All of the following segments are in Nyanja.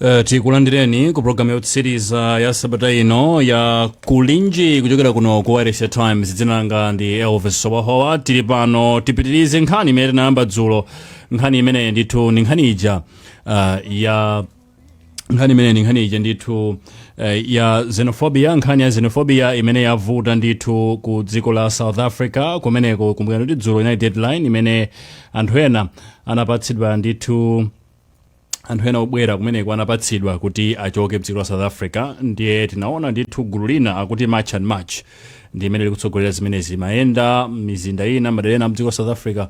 Uh, tikulandireni ku programu yotsiriza ya sabata ino ya kulinji kuchokera kuno ku wayilesi ya times dzina langa ndi elvis howahowa tili pano tipitirize nkhani imene tinayamba dzulo nkhani imene ndithu ndi nkhani ija uh, ya nkhani imene ndi nkhani ija ndithu uh, ya xenophobia nkhani ya xenophobia imene yavuta ndithu ku dziko la south africa kumeneko kumbukirani kuti dzulo inali deadline imene anthu ena anapatsidwa ndithu anthu ena obwera kumeneko anapatsidwa kuti achoke mdziko la south africa ndiye tinaona ndithu gulu lina akuti march and march ndi limene likutsogolera zimenezi limayenda mizinda ina madera ena mdziko la south africa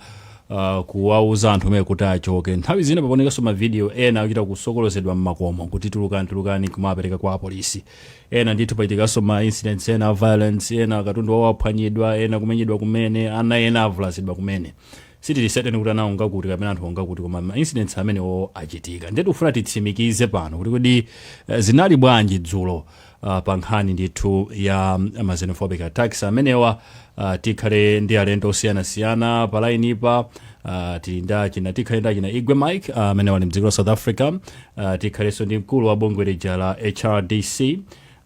uh, kuwauza anthu omwe kuti achoke nthawi zina pakuonekanso mavidiyo ena akuchita kusokolotsedwa mmakomo kuti tulukani tulukani kumapereka kwa apolisi ena ndithu pachitikanso ma incidents ena a violence ena katundu wawo aphwanyidwa ena kumenyedwa kumene ana ena avulazidwa kumene sitili certain kuti ana onga kuti kapena anthu onga kuti koma ma incidents amenewo achitika ndiye tikufuna titsimikize pano kuti kodi eh, zinali bwanji dzulo ah, pa nkhani ndithu ya mm, ma xenophobic attacks amenewa ah, tikhale ndi alendo osiyanasiyana pa line pa ah, tili ndi achina tikhale ndi achina igwe mike ah, amenewa ali mdziko la south africa ah, tikhalenso ndi mkulu wa bungwe lija la hrdc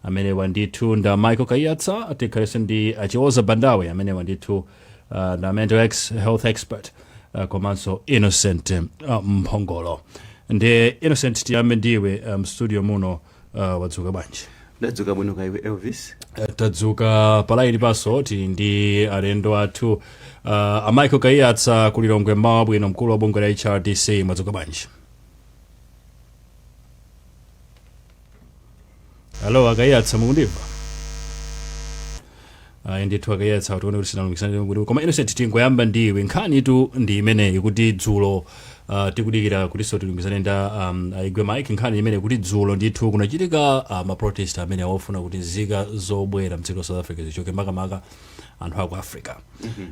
amenewa ndithu nda michael kaiyatsa tikhalenso ndi a chiwoza bandawe amenewa ndithu uh, ndi mental ex health expert uh, komanso innocent uh, mphongolo ndiye innocent tiyambe ndiwe um, mstudio muno uh, wadzuka bwanji ndadzuka bwino kaya iwe elvis Eh, tadzuka palaini panso tili ndi alendo athu uh, a michael kaiyatsa ku lilongwe mmawa wabwino mkulu wa bungwe la hrdc mwadzuka bwanji alo a kaiyatsa mukundimva ayi ndithu a kaiyatsa tione kuti sitinalumikizane kuti koma innocent tingoyamba ndiwe nkhanitu ndi imeneyi kuti dzulo uh, tikudikira kutinso tilumikizane nda um, a igwe mike nkhani imeneyi kuti dzulo ndithu kunachitika uh, maprotest amenewa ofuna kuti nzika zobwera mdziko la south africa zichoke makamaka anthu aku africa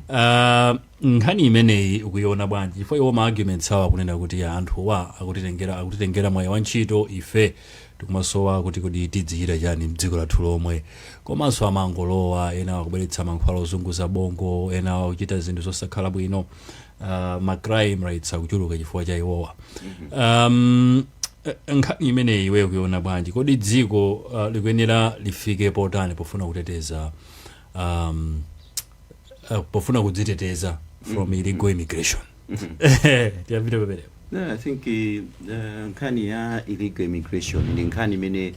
uh, nkhani imeneyi ukuiona bwanji chifukwa iwo ma arguments awo akunena kuti anthuwa akutitengera akutitengera mwayi wa ntchito ife tikumasowa kuti kodi tidzichita chani mdziko lathu lomwe komanso amangolowa ena akubweretsa mankhwala ozunguza bongo ena akuchita zinthu zosakhala bwino uh, ma crime rates akuchuluka chifukwa cha iwowa um, eh, nkhani imeneyi iwe ukuiona bwanji kodi dziko uh, likuyenera lifike potani pofuna kuteteza um, uh, pofuna kudziteteza from mm. illegal immigration tiyambire pamenepo Yeah, I think uh, nkhani ya illegal immigration ndi nkhani imene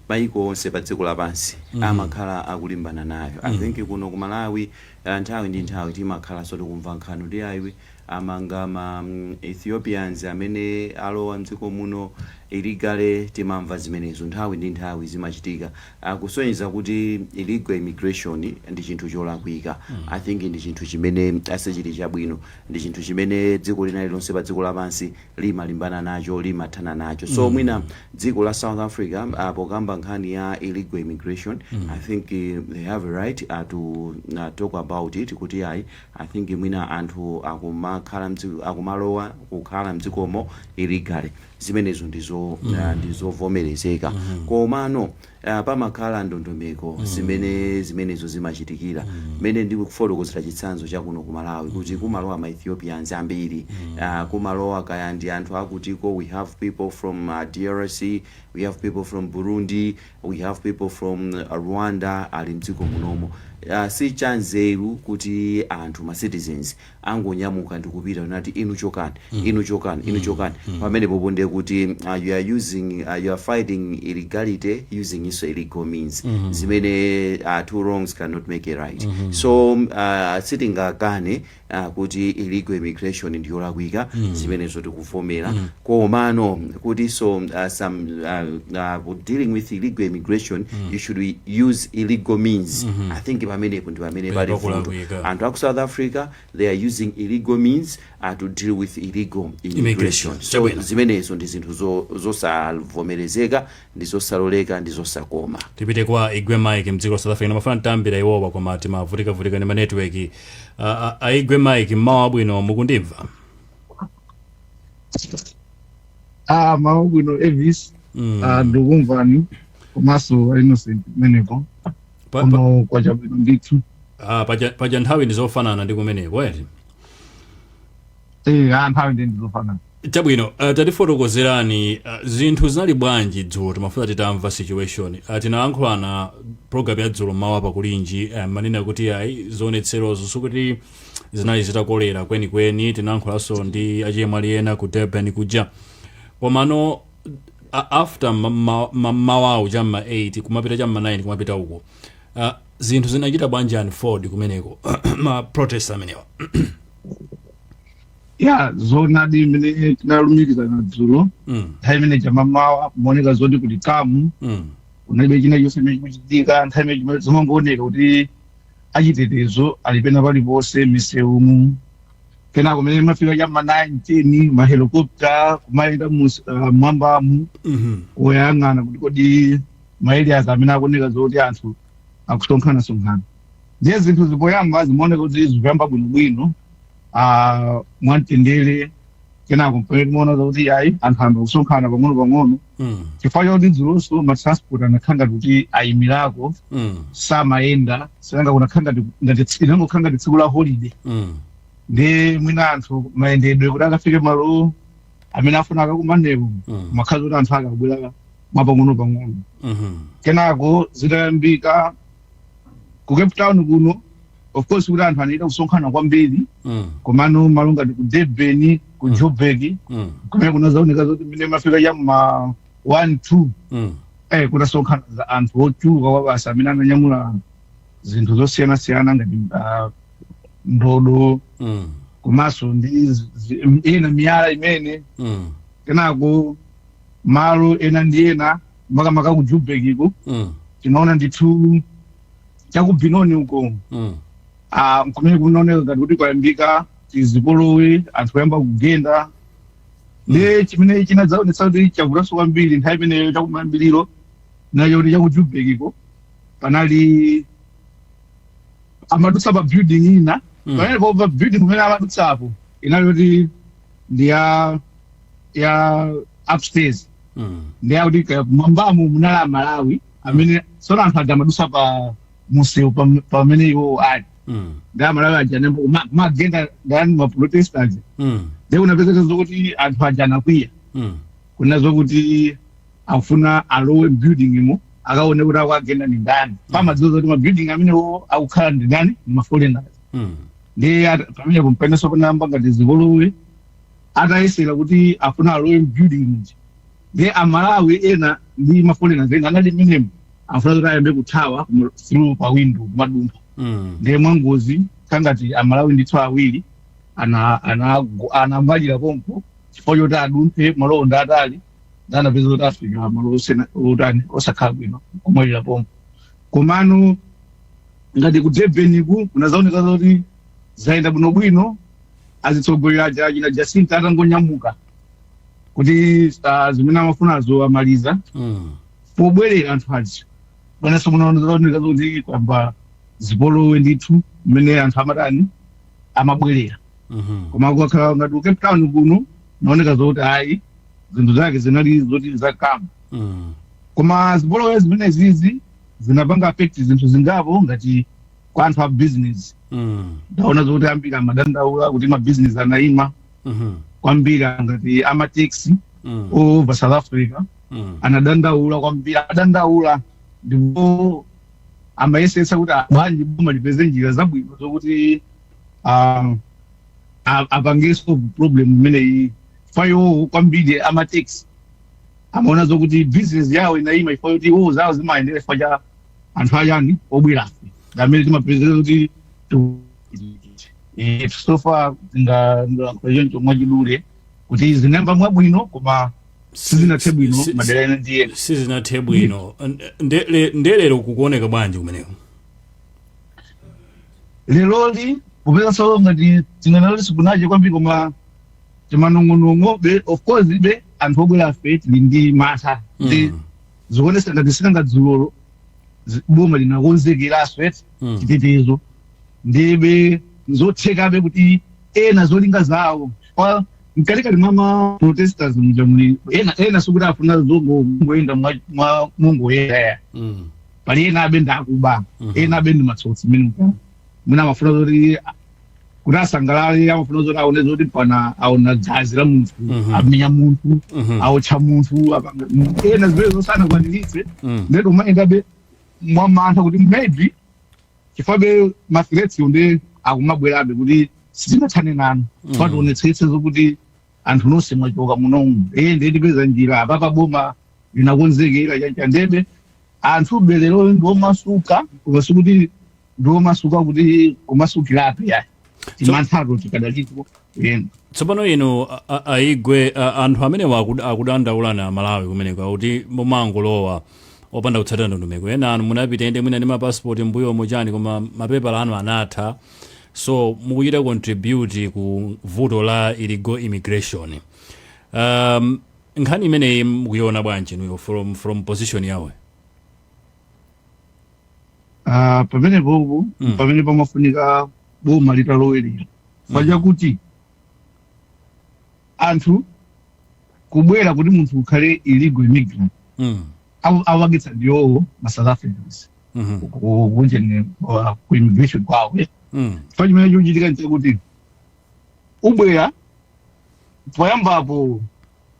maiko onse pa dziko lapansi amakhala akulimbana nayo i think kuno ku malawi uh, nthawi ndi nthawi timakhala so tikumva nkhani kuti ayi amanga ma mm, ethiopians amene alowa mdziko muno illegally timamva zimenezo nthawi ndi nthawi zimachitika kusonyeza kuti illegal immigration ndi chinthu cholakwika i think ndi chinthu chimene sichili chabwino ndi chinthu chimene dziko lina lililonse pa dziko lapansi limalimbana nacho limathana nacho so mwina dziko la south africa ah, pokamba nkhani ya illegal immigration i think eh, they have a right ah, to ah, talk about it kuti ayi i think mwina anthu akumakhala mdziko akumalowa kukhala mdzikomo illegally zimenezo ndi zo ah, ndi zovomerezeka komano ah, pamakhala ndondomeko zimene zimenezo zimachitikira mmene ndikufotokozera chitsanzo cha kuno ku malawi kuti kumalowa ma ethiopians ambiri ah, kumalowa kaya ndi anthu akutiko we have people from ah, drc we have people from burundi we have people from ah, rwanda ali mdziko munomo Ah, si chanzeru kuti anthu ma citizens angonyamuka ndikupita nati inu chokani inu chokani inu chokani pamenepopo ndiye kuti uh, you are using uh, you are fighting illegality using also illegal means zimene uh, two wrongs cannot make a right so um, uh, sitingakane uh, kuti illegal immigration ndiyolakwika zimenezo tikuvomera komano kutinso uh, some uh, uh, dealing with illegal immigration mm. you should use illegal means mm -hmm. i think pamenepo ndi pamene pali vuto anthu aku south africa they are using illegal means uh, to deal with illegal immigration so zimenezo ndi zinthu zosavomerezeka ndi zosaloleka ndi zosakoma tipite kwa igwe mike mdziko la south africa ndimafuna titayambira iwowa koma timavutikavutika ndi ma network uh, uh, igwe mike mmawa abwino mukundimva ah mmawa wabwino elvis Mm. ah, ndikumvani komanso a innocent kumeneko Pa- pa- kuno kwacha bwino ndithu ah, paja paja nthawi ndizofanana ndi kumeneko eti Eh, ah, nthawi ndi ndizofanana chabwino uh, tatifotokozerani uh, zinthu zinali bwanji dzulo timafuna titamva situation uh, tinalankhulana program ya dzulo mmawa pa kulinji uh, mumanena kuti ayi zionetserozo sikuti zinali zitakolera kwenikweni tinayankhulanso ndi achemwali ena ku durban kuja komano a- after ma- ma- ma- mmawawu cha mma 8 kumapita cha mma 9 kumapita uko Ah, zinthu zinachita bwanji unfold kumeneko ma protest amenewa ya zoonadi mmene tinalumikizana dzulo mm, nthawi imene cha mmamawa kumaoneka zoti kuti kamu mm, kunalibe china chonse chimene chikuchitika nthawi imene chimene zimangooneka kuti achitetezo ali pena paliponse misewumu kenako mmene imafika cha m'ma 9 10 mahelikopta kumayenda mus- ah, mwambamu Mhm. woyang'ana kuti kodi ma areas amene akuoneka zoti anthu akusonkhanasonkhana ndiye zinthu poyamba zimaoneka kuti zikuyamba bwinobwino ah, mwamtendere kenako mpamene timaona kuti ayi anthu ayamba kusonkhana pang'ono-pang'ono Mm. chifukwa choti dzulonso matransport anakhala ngati kuti ayimirako Mm. samayenda chifukwa kunakhala ngati ngati tsi- inangokhala ngati tsiku la holiday Mm. nde mwina anthu mayendedwe kuti akafike malo amene afuna akakumaneko Mm. imakhala kuti anthu akabwera mwapang'ono-pang'ono Mhm. kenako zitayambika ku Cape Town kuno of course kuti anthu anachita kusonkhana kwambiri Mm. komano malo ngati ku Durban ku Joburg Mm. kumene kunazaoneka zoti mmene imafika cha m'ma 1 2 Mm. eh kunasonkhananso anthu ochuluka kwabasi amene ananyamula zinthu zosiyanasiyana ngati ah, ndodo Mm. komanso ndi zi- zi- m- ina miyala imene Mm. kenako malo ena ndi ena makamaka ku Joburg ko Mm. tinaona ndithu cha ku Benoni uko Mm. ah, kumene kunaoneka ngati kuti kwayambika chizipolowe anthu kuyamba kugenda ndiye chimene chinadzaonetsa kuti chavutanso kwambiri nthawi imeneyo chakumayambiriro nchokuti cha ku Joburg ko panali amadutsa pa building ina Mm. pamene pa building kumene amadutsapo inali kuti ndi ya ya upstairs Mm. nde akuti mwambamo munali a Malawi amene tsono anthu aja amadusa pa msewu pam- pamene iwo ali Mm. nde a Malawi aja nembo ma- kumagenda ndani maprotesters Mm. nde kunapezeka zokuti anthu aja anakwiya Mm. kunena zokuti afuna alowe m'building mo akaone kuti akuagenda ni ndani pomadziwa zoti mabuilding amenewo akukhala ndi ndani ni maforeigners Mm. nde ata- pamene pamenenso panayamba ngati zipolowe atayesera kuti afuna alowe m'building muja Ndiye a Malawi ena ndi ma foreigners ena anali mmenemo afuna kuti ayambe kuthawa kuno through pa window kumadumpha. Mm. Ndiye mwangozi ngati a Malawi ndithu awiri ana ana anamwalira pompo chifukwa choti adumphe malowo ndi atali nde anapezeka kuti afika malo osena- otani osakhala bwino kumwalira pompo. Komano ngati ku Durban ku kunazaoneka zoti zayenda bwinobwino azitsogoleri aja achina Jacinta atangonyamuka kuti ah, zimene amafunazo amaliza Mm. pobwerera anthu aja panenso munaoneka zoti kwamba zipolowe ndithu mmene anthu amatani amabwerera Mhm. koma kukakhala ngati ku cape town kuno naoneka zoti ayi zinthu zake zinali zoti zakamba Mm. koma zipolowe zimene zizi zinapanga affect zinthu zingapo ngati kwa anthu a business Mm. ndaona zoti ambiri amadandaula kuti mabizinesi anayima Mhm. kwambiri ngati amataxi Mm. over south africa Mm. anadandaula kwambiri adandaula ndipo amayesetsa kuti bwanji boma lipeze njira zabwino zokuti um, a- apange solve problem imeneyi chifukwa iwo kwambiri amataxi amaona zokuti business yawo inayima chifukwa choti iwo zawo zimayendera chifukwa cha anthu a chani obwerafe ndi amene timapezeka kuti Eh, so far tingalankhule choncho mwachidule kuti zinayamba mwabwino koma sizinathe bwino si- madera ena ndiye sizinathe bwino Nde- le- nde lero kukuoneka bwanji kumeneko leroli popezaso ngati tinganali sikunache kwambiri koma timanong'onong'obe of course ife anthu obwerafe tili ndi mantha ndi Mm. zikuonesa ngati si nanga dzulolo zi- boma linakonzekeraso eti Mm. chitetezo ndebe nzothekabe kuti ena zolinga zawo kwa mkatikati mwa ma protesters muja muli ena ena sikuti afuna zongoyenda mwa- mwa mongoyenda Mm. pali enabe ndi akuba Mhm. enabe ndi matsotsi mene mukama mwina amafuna zoti kuti asangalale amafuna zoti aone zoti mpana aona gazi la munthu Mhm. amenya munthu Mhm. aotcha munthu apanga- mu- ena zimenezo sanakwaniritse Mm. nde tikumayendabe mwamantha kuti maybe chifukwabe ma threats wo nde akumabwerabe kuti sitinathane nanu Mm. mpaka tionetsetse zokuti anthu nonse mwachoka munomu ee ndiye tipeza njira apapa boma linakonzekera chanichani ndebe anthube lero ndi omasuka koma sikuti ndi omasuka kuti kumasukiratu ayi timanthato tikadalipo yena tsopano inu a- a- aigwe a- anthu amene wakud- akudandaula na malawi kumeneko akuti mumangolowa opanda kutsatira ndondomeko ena inu munapita inde mwina ndi mapasipoti m'mbuyomo chani koma mapepala anu anatha so mukuchita contribute ku vuto la illegal immigration um, nkhani imeneyi mukuiona bwanji nuyo from, from position yanu Ah, pamene popopo Mm. pamene pamafunika boma litalowerera chifukwa chakuti anthu kubwera kuti munthu ukhale illegal immigrant mm. aw- apangitsa ndi iwowo ma south africans Mhm. kunjeni uh, ku immigration kwawo eh. Mm. chifukwa chimene chikuchitika nchakuti ukabwera poyambapo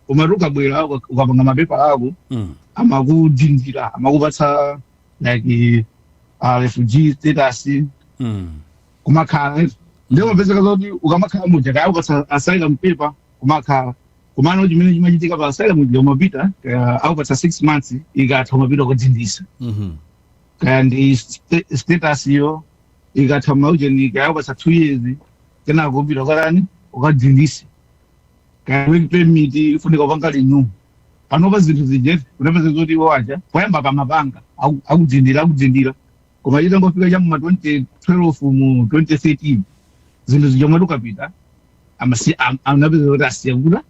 umati ukabwera uka- ukapanga mapepala ako Mm. amakudindira amakupatsa like uh, refugee status Mm. kumakhala ndiye umapezeka zoti ukamakhala muja kaya ukasa- asylum paper kumakhala kumano chimene chimachitika pa asylum muja umapita kaya akupatsa 6 months ikatha umapita ukadindisa Mhm. kaya ndi st- status yo ikatha maujeni kaya akupatsa 2 years kenako upita kwalani ukadindise kaya work permit ikufunika upange renew panopa zinthu zijetu unapeza zoti iwo aja poyamba pamapanga aku- akudindira akudindira Koma titangofika cha mma 2012 mu 2013 zinthu zija umati ukapita amasi- am- anapeza kuti asiya kutani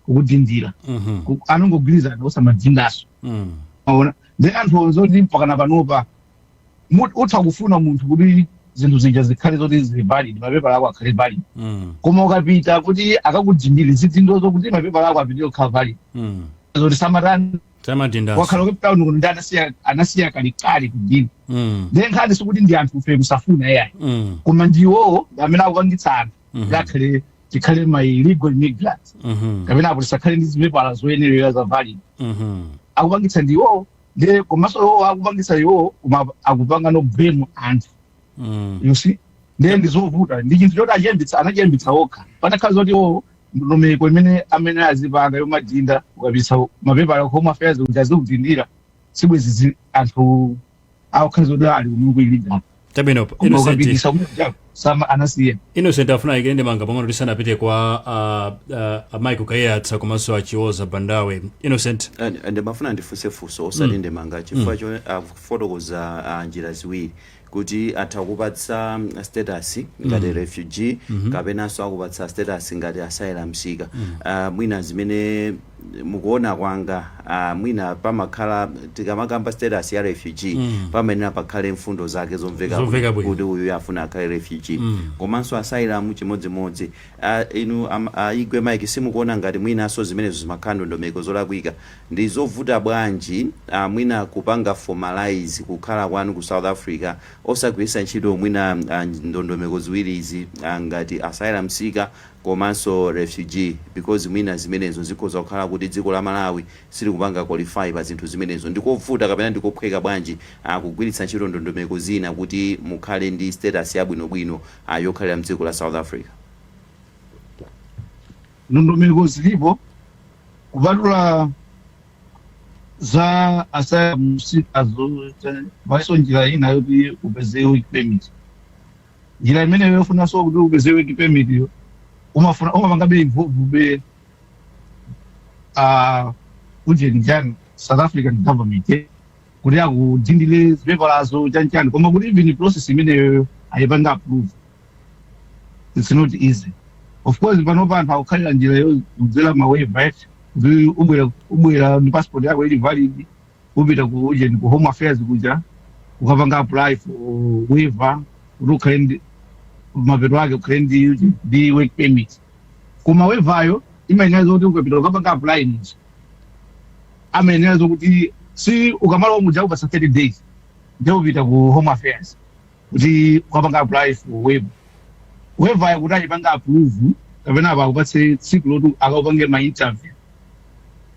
kukudindira Mhm. Ku- anangogwirizana osamadindaso Mm. aona ndi anthu onse oti mpakana panopa mu- utha kufuna munthu kuti zinthu zija zikhale zoti zili valid mapepala ako akhale valid Mm. koma ukapita kuti akakudindire zidindo zokuti mapepala ako apitirire kukhala valid Mm. zoti samatani samadindaso kwa akukhala Cape Town kuno nde anasiya anasiya kalekale kudini mm. nde nkhani sikuti ndi anthu fe kusafuna ayi mm. koma ndiwowo ndi amene akupangitsa anthu Mhm. kuti akhale tikhale ma illegal immigrants mhm, kapena apo tisakhale ndi zipepala zoyenerera za valid mhm, akupangitsa ndi iwowo nde komanso iwowo akupangitsa iwowo koma akupanganso blame anthu mm, you see nde ndizovuta ndi chinthu choti achiyambitsa anachiyambitsa okha panakhala zoti iwowo ndondomeko imene amayenera azipanga yomadinda ukapitsa mapepala ku home affairs kuti azikudindira sibwezi zi- anthu akukhala zoti ali kuno ku illegal chabwino koma innocent ukapititsa kumuja sama anasiya innocent afuna aikepo ndemanga pang'ono tisanapite kwa uh, uh, michael kaiyatsa komanso achioza bandawe innocent And- and ndimafuna ndifunse funso osati ndemanga chifukwa choti akufotokoza ah, njira ziwiri kuti atha kupatsa status ngati mm. refugee mm -hmm. kapenanso akupatsa status ngati asylum seeker mm. uh, mwina zimene mukuona kwa ine uh, mwina pamakhala tikamakamba status ya refugee mm. pamayenera pakhale mfundo zake zomveka Zomveka bwino. kuti uyu afuna akhale refugee mm. komanso asylum chimodzimodzi uh, inu um, uh, igwe Mike simukuona ngati mwinanso zimenezo zimakhala ndondomeko zolakwika Ndizovuta bwanji a mwina kupanga formalize kukhala kwanu ku South Africa osagwiritsa ntchito mwina a ndondomeko ziwiri izi a ngati asylum seeker komanso refugee because mwina zimenezo zikhoza kukhala kuti dziko la Malawi silikupanga qualify pa zinthu zimenezo. Ndikovuta kapena ndikophweka bwanji a kugwiritsa ntchito ndondomeko zina kuti mukhale ndi status yabwinobwino a yokhalira mdziko la South Africa? Ndondomeko zilipo kupatula za asylum seekers-o, palinso njira ina yoti upeze work permit. Njira imeneyo yofunanso kuti upeze work permit-yo, umafuna- umapanga be involve be, ah, ujeni ujani, South African government, eh, kuti akudindire zipepalazo chanchani koma kuti even process imeneyo ayipange approve its not easy of course panopa anthu akukhalira njira yodzera ma waiver eti kuti ubwera ubwera ndi passport yako ili valid upita ku ujeni ku home affairs kuja ukapanga apply for waiver kuti ukhale ndi mapeto ake ukhale ndi uji- ndi work permit koma waiver-yo imayenera zoti ukapita kukapanga apply nizo amayenera zokuti si ukamalowa muja akupatsa 30 days nde upita ku home affairs kuti ukapanga apply for waiver waiver-yo kuti ayipange approve kapena apa akupatse tsiku loti akakupange ma interview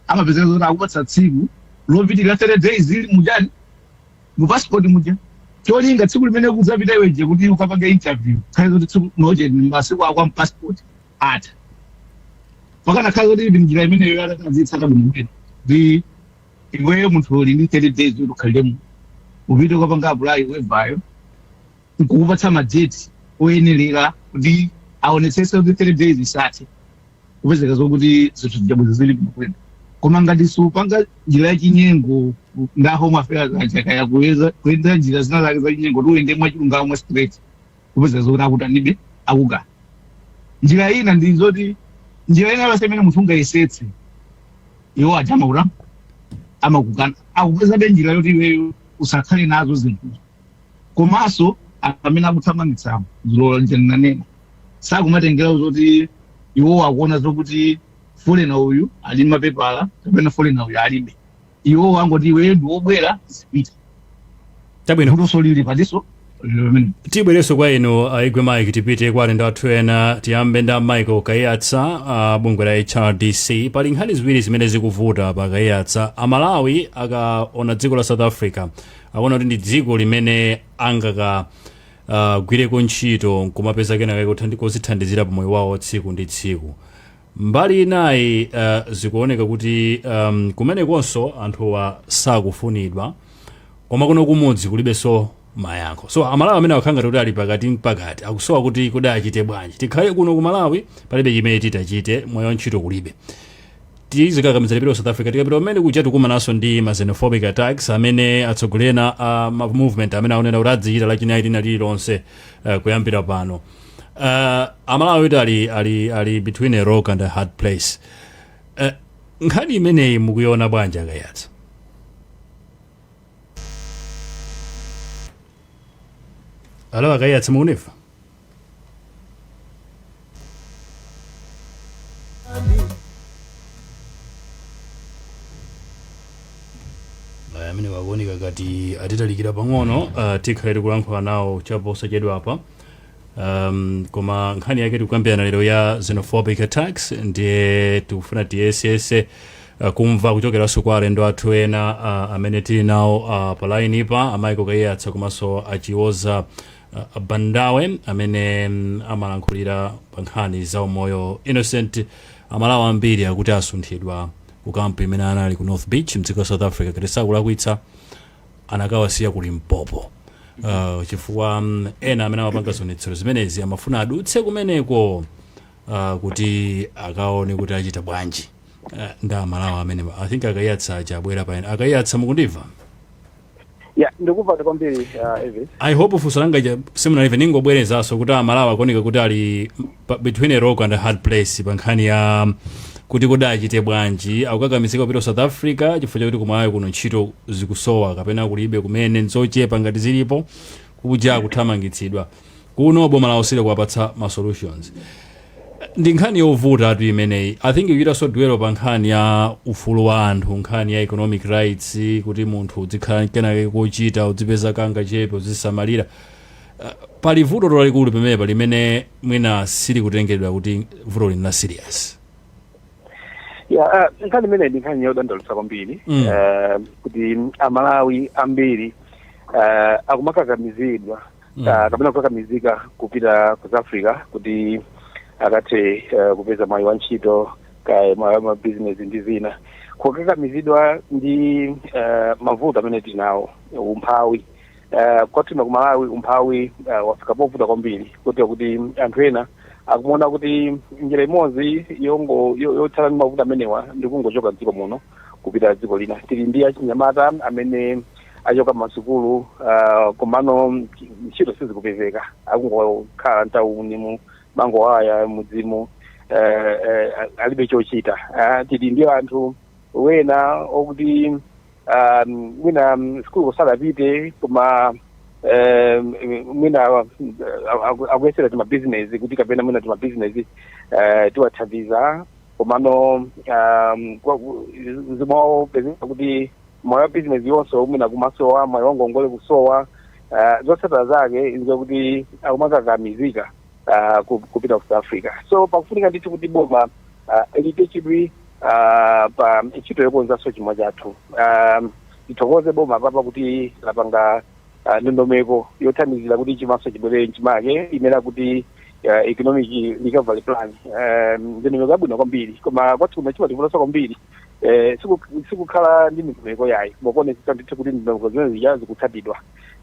amapezeka zoti akupatsa tsiku lopitirira 30 days ili mujani mu passport muja cholinga tsiku limene kudzapita iweje kuti ukapange interview khale zoti tsiku lija ndi masiku ako a mu passport atha mpakana khale zoti ndi njira imeneyo atatazitsa kabwino bwino ndi iweyo munthu uli ndi 30 days kuti ukhalemo upite kukapanga apulayi wevayo nkukupatsa madeti oyenerera kuti aonetsese kuti 30 days isanathe kupezeka zokuti zinthu zidabweza zili bwino koma ngati supanga njira yachinyengo nda home affairs aja kaya kuyesa kuyenda njira zina zake zachinyengo kuti uyende mwachilungamo mwa straight kupezeka zoti akutanibe akukana njira ina ndi zoti njira ina yonse imene munthu ungayesetse iwo aja amakut- amakukana akupezabe njira yoti iweyo usakhale nazo zinthuzo komanso anthu amene akuthamangitsawo zili monga ndinanena sakumatengera zoti iwo akuona zokuti foreigner uyu ali mapepala kapena foreigner uyu alibe iwo angoti iwe ndi wobwera zipita chabwino vutoso lili patiso lero mene tibwereso kwa inu a igwe mike tipite kwa alendo athu ena tiyambe nda michael kaiyatsa a bungwe la hrdc pali nkhani ziwiri zimene zikuvuta apa a kaiyatsa amalawi akaona dziko la south africa akuona kuti ndi dziko limene angaka uh, gwireko ntchito nkumapeza kenakake kozithandizira pa moyo wawo tsiku ndi tsiku Mbali inayi uh, zikuoneka kuti um, kumenekonso anthuwa sakufunidwa koma kuno kumudzi kulibenso mayankho so amalawi amene akukhala ngati kuti ali pakatimpakati akusowa kuti kodi achite bwanji tikhale kuno ku malawi palibe chimene titachite moyo wa ntchito kulibe tizikakamiza tipita ku south africa tikapita kumene kuja tikumananso ndi ma xenophobic attacks amene atsogoleri ena a ma movement amene akunena kuti adzichita lachinayi lina lililonse uh, kuyambira pano uh, amalawi kuti ali, ali, ali between a rock and a hard place uh, nkhani imeneyi mukuiona bwanji akayatsa alo akayatsa mukundimva Aya, amenewa akuoneka ngati atitalikira pang'ono uh, tikhale tikulankhula nawo chaposachedwapa um, koma nkhani yake tikukambirana lero ya xenophobic attacks ndiye tikufuna tiyesetse uh, kumva kuchokeranso kwa alendo athu ena uh, amene tili nawo uh, pa lainipa a michael kayatsa komanso a chiwoza uh, bandawe amene mm, amalankhulira pa nkhani za umoyo innocent amalawi ambiri akuti asunthidwa ku kampu imene anali ku north beach mdziko la south africa kuti sakulakwitsa anakawasiya ku limpopo uh, chifukwa mm, ena amene amapanga zionetsero zimenezi amafuna adutse kumeneko uh, kuti akaone kuti achita bwanji uh, ndi amalawi amene i think akayatsa aja abwera paena akayatsa mukundimva ya ndikumva kwambiri uh, evis i hope funso langa lija simunalimve ndingobwerezanso kuti amalawi akuoneka kuti ali pa- between a rock and a hard place pa nkhani ya kuti kodi achite bwanji akukakamizika kupita ku south africa chifukwa chakuti kumalawi kuno ntchito zikusowa kapena kulibe kumene nzochepa ngati zilipo kuja akuthamangitsidwa kuno boma lawo silikuwapatsa ma solutions ndi nkhani yovutatu imeneyi i think ichitaso duelo pa nkhani ya ufulu wa anthu nkhani ya economic rights kuti munthu uzikhala ndi kenakake kochita uzipeza kangachepe uzidzisamalira Uh, pali vuto lalikulu pamenepa limene mwina silikutengedwa kuti vuto lina serious ya, ah, nkhani imeneyi ndi nkhani yodandaulitsa kwambiri Mm. Eh, kuti amalawi ambiri eh, akumakakamizidwa Mm. ah, kapena kukakamizika kupita ku south africa kuti akathe eh, kupeza mwayi wa ntchito kaya mwayi wa mabizinesi ndi zina kukakamizidwa ndi eh, mavuto amene tili nawo umphawi uh, kwathuno kumalawi umphawi uh, wafika povuta kwambiri kotero kuti anthu ena akumaona kuti njira imodzi yongo yo- yothana ndi mavuto amenewa ndi kungochoka mdziko muno kupita dziko lina tili ndi achinyamata amene achoka m'masukulu uh, komano ntchito sizikupezeka akungokhala mtaunimu amangoyaya mmudzimu eh, eh, alibe chochita Ah, tili ndi anthu ena okuti ah, mwina mm, sukulu sadapite koma eh, mwina ah, aku- akuyesera timabizinesi kuti kapena mwina timabizinesi eh, tiwathandiza komano um, kwa- zimapezeka kuti mwayi wa bizinesi yonso mwina kumasowa mwayi wangongole kusowa ah, zotsatira zake nzakuti akumakakamizika ah, ku- kupita ku south africa so pakufunika ndithu kuti boma ah, liike chidwi ah, pa ntchito yokonzanso chuma chathu Ah, tithokoze boma apapa kuti lapanga ah, ndondomeko yothandizira kuti chuma chibwerere mchimake imene akuti uh, economic recovery plan um, ndondomeko yabwino kwambiri koma kwathu kuno chimativutanso kwambiri eh, siku- sikukhala ndi ndondomeko yayi ma kuonetsetsa ndithu kuti ndondomeko zimene zija zikutsatidwa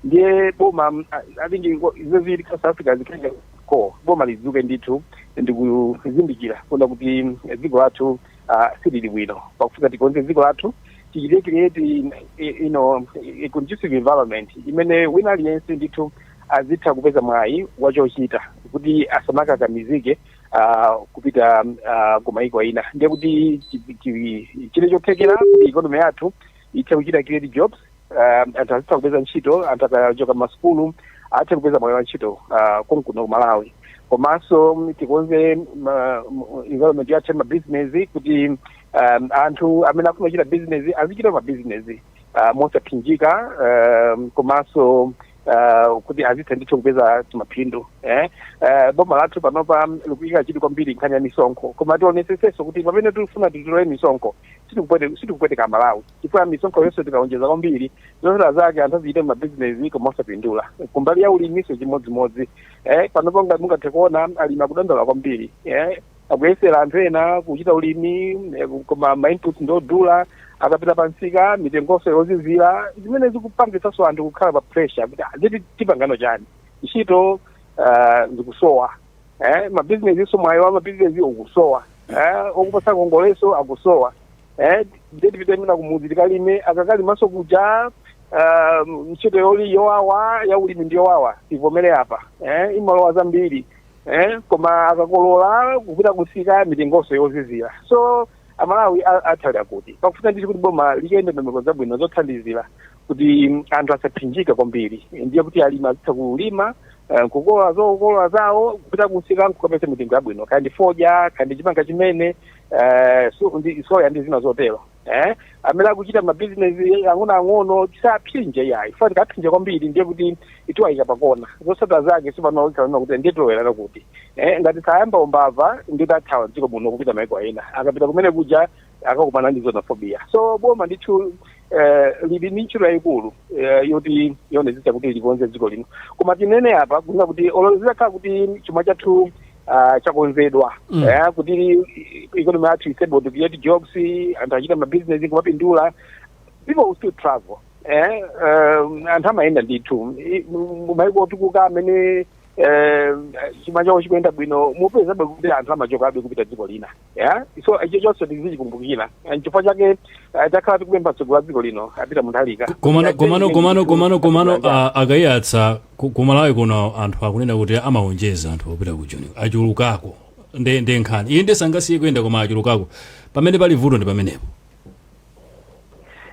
ndiye boma mm, I- i think ingo- izo zili south africa zikhale ngati ko boma lidzuke ndithu ndikuzindikira kuona kuti mm, dziko lathu ah, silili bwino pakufunika tikonze dziko lathu tichite create in- i- you know, a conducive environment imene wina aliyense ndithu azitha kupeza mwayi wachochita kuti asamakakamizike ah, kupita ah, kumayiko ina nde kuti chi- chi- chili chothekera kuti ikonomi yathu ithe kuchita create jobs uh, anthu azitha kupeza ntchito anthu akachoka masukulu athe kupeza mwayi wa ntchito uh, konkuno ku malawi komanso mm, tikonze ma- m- environment yathu ya mabizinesi kuti um, anthu amene akufuna kuchita bizinesi azichita mabizinesi uh, mosaphinjika um, komanso uh, kuti azitha ndithu kupeza timaphindu eh? uh, boma lathu panopa likuyika chidwi kwambiri nkhani ya misonkho koma tionetsetsenso kuti pamene tikufuna titole misonkho sitikupwete- sitikupweteka amalawi chifukwa misonkho yonse tikaonjeza kwambiri zotsatira zake anthu azichita mabizinesi koma osapindula kumbali ya uliminso chimodzimodzi eh, panopo ngati mungathe kuona alimi akudandaula kwambiri eh, akuyesera anthu ena kuchita ulimi eh, koma mainputs ndiodula akapita pansika mitengonso yozizira zimene zikupangitsanso anthu kukhala pa pressure kuti "Ah, ziti tipangano chani ntchito ah, zikusowa eh, mabizinesi so mwayi wa mabizinesi ukusowa eh, okupatsa ngongolenso akusowa eh, ndiye tipite mwina kumudzi tikalime akakalimanso kuja ah, ntchito yoli yowawa ya ulimi ndi yowawa tivomere apa eh, imalowa zambiri eh, koma akakolola kupita kumsika mitengonso yozizira so amalawi a- athu ndiye kuti pakufunika ndithu kuti boma liike ndondomeko zabwino zothandizira kuti anthu asaphinjike kwambiri ndiye kuti alimi azitha kulima eh, kukolola zokolola zawo kupita kumsika nkukapeza mitengo yabwino kaya ndi fodya kaya ndi chimanga chimene eh, so- soya ndi zina zotero eh, amene akuchita mabizinesi ang'onoang'ono tisawaphinje yayi fa tikawaphinja kwambiri ndiye kuti tiwayika pakona zotsatira zake si pano akunena kuti ndiye tilowera kuti eh, ngati sayamba umbava ndiye athawa dziko muno kupita maiko ena akapita kumene kuja akakumana ndi xenophobia so boma ndithu eh, lili ndi ntchito yayikulu eh, yoti yoonetsetsa kuti likonze dziko lino koma tinene apa kunena kuti olo zitakhala kuti chuma chathu ah, chakonzedwa Mm. eh, kuti ikonomi yathu is able to create jobs anthu achita mabizinesi kumapindula people will still travel eh, um, anthu amayenda ndithu I- mu- mu maiko otukuka amene eh, chuma chawo chikuyenda bwino mupezabe kuti anthu amachokabe kupita dziko lina yeah? so icho chonse tizichikumbukira And chifukwa chake eh, takhala tikupempha mtsogoleri wa dziko lino apita munthalika komano komano komano komano komano ah, a Kaiyatsa ku- ku malawi kuno anthu akunena kuti amawonjeza anthu opita ku joni achulukako nde nde nkhani iyi nde sangasiye kuyenda koma achulukako pamene pali vuto ndi pamenepo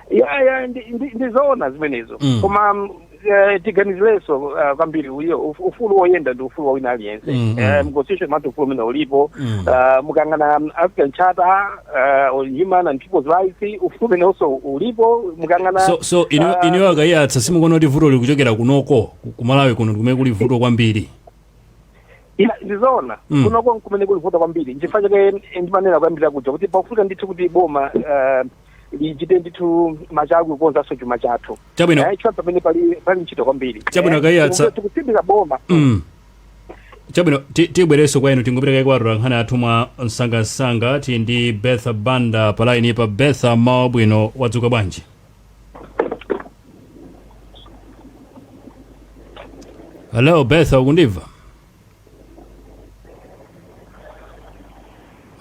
ya ya ndi- ndi- ndizoona zimenezo Mm. koma mm, eh, tiganizireso uh, kwambiri uyo uf- ufulu woyenda ndi ufulu wa wina aliyense Mm, Eh, mm. mconstitution mwathu ufulu umene ulipo Mm. Ah, mukayang'ana mm, african charter ah, on human and people's rights ufulu umene also ulipo mukayang'ana so so inu ah, inu a Kaiyatsa simukuona kuti vuto likuchokera kunoko ku- ku Malawi kuno nkumene kuli vuto kwambiri Ya, ndizoona Mm. kunoko nkumene kuli vuto kwambiri nchifukwa chake ndimanena kuyambira kuja kuti pakufunika ndithu kuti boma eh, lichite ndithu machawi kukonzanso chuma chathu Chabwino. Eh, chifukwa pamene pali pali ntchito kwambiri Chabwino, Eh, a Kaiyatsa. tikuti- tikutsindika boma Mm. chabwino ti- tibwerenso kwa inu tingopita kaye kwa atolankhani athu mwa msangamsanga tili ndi betha banda pa laini pa betha mmawa wabwino wadzuka bwanji hello betha ukundimva